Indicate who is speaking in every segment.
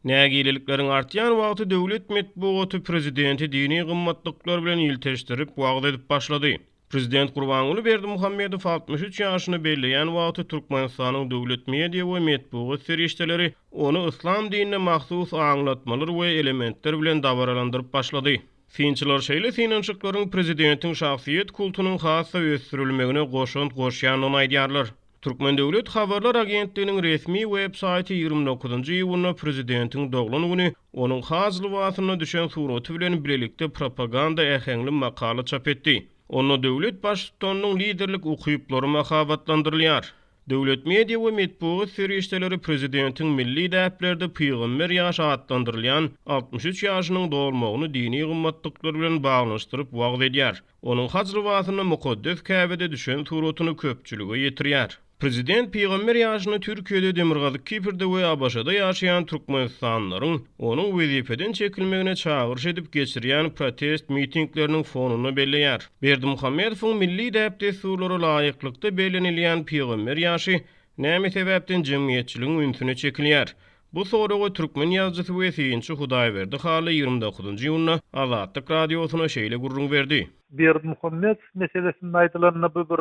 Speaker 1: Nägilelikleriň artýan wagty döwlet metbugaty prezidenti dini gymmatlyklar bilen ilteşdirip, wagyz edip başlady. Prezident Gurbanguly Berdimuhamedow altmyş üç ýaşyny belleýän wagty Türkmenistanyň döwlet media we metbugat serişdeleri ony yslam dinine mahsus aňlatmalar we elementler bilen dabaralandyryp başlady. Synçylar şeýle synanyşyklaryň prezidentiň şahsyýet kultunyň has-da ösdürilmegine goşant goşýandygyny aýdýarlar. Türkmen döwlet habarlar agentliginiň resmi web saýty ýigrimi dokuzynjy iýunda prezidentiň doglan güni, onuň has lybasynda düşen suraty bilen bilelikde propaganda äheňli makala çap etdi. Onda döwlet baştutanynyň liderlik ukyplary mahabatlandyrylýar. Döwlet media we metbugat serişdeleri prezidentiň milli däplerde pygamber ýaşy atlandyrylýan altmyş üç ýaşynyň dolmagyny dini gymmatlyklar bilen baglanyşdyryp wagyz edýär. Onuň haj lybasynda mukaddes Käbede düşen suratyny köpçülige ýetirýär. Prezident pygamber ýaşyny Türkiýede, Demirgazyk Kiprde we ABŞ-da ýaşaýan türkmenistanlylaryň onuň wezipeden çekilmegine çagyryş edip geçirýän protest mitingleriniň fonunda belleýär. Berdimuhamedowyň milli däp-dessurlara laýyklykda bellenilýän pygamber ýaşy näme sebäpden jemgyýetçiligiň ünsüne çekilýär? Bu soraga türkmen ýazyjysy we synçy Hudaýberdi Hally ýigrimi dokuzynjy iýunda Azatlyk Radiosyna şeýle gürrüň berdi. Berdimuhamedow meselesinde aýdylanda bu bir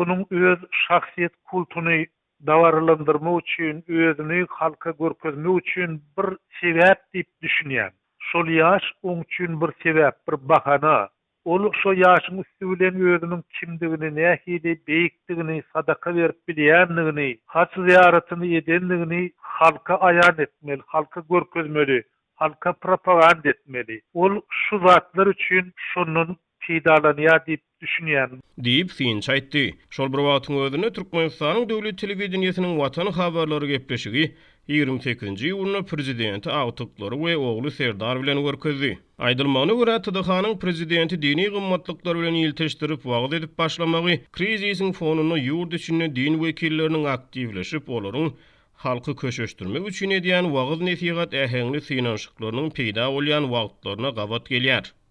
Speaker 1: onuň öz şahsyýet kultuny dabaralandyrmak üçin, özüni halka görkezmek üçin bir sebäp diýip düşünýän. Şol ýaş oň üçin bir sebäp, bir bahana. Ol şo ýaşyň üsti bilen özüniň kimdigini, nähili beýikdigini, sadaka berip bilýändigini, haj zyýaratyny edendigini halka aýan etmeli, halka görkezmeli, halka propaganda etmeli. Ol şu zatlar üçin şondan peýdalanýar diýip düşünýän. Diýip, synçy aýtdy. Şol bir wagtyň özünde Türkmenistanyň döwlet telewideniýesiniň Watan habarlary gepleşigi ýigrimi sekizinji iýunda prezidenti agtyklary we ogly Serdar bilen görkezdi. Aýdylmagyna görä, TDH-nyň prezidenti dini gymmatlyklar bilen ilteşdirip wagyz edip başlamagy krizisiň fonunda ýurt içinde din wekilleriniň aktiwleşip, olaryň halky köşeşdirmek üçin edýän wagyz-nesihat äheňli synanyşyklarynyň peýda bolýan wagtlaryna gabat gelýär.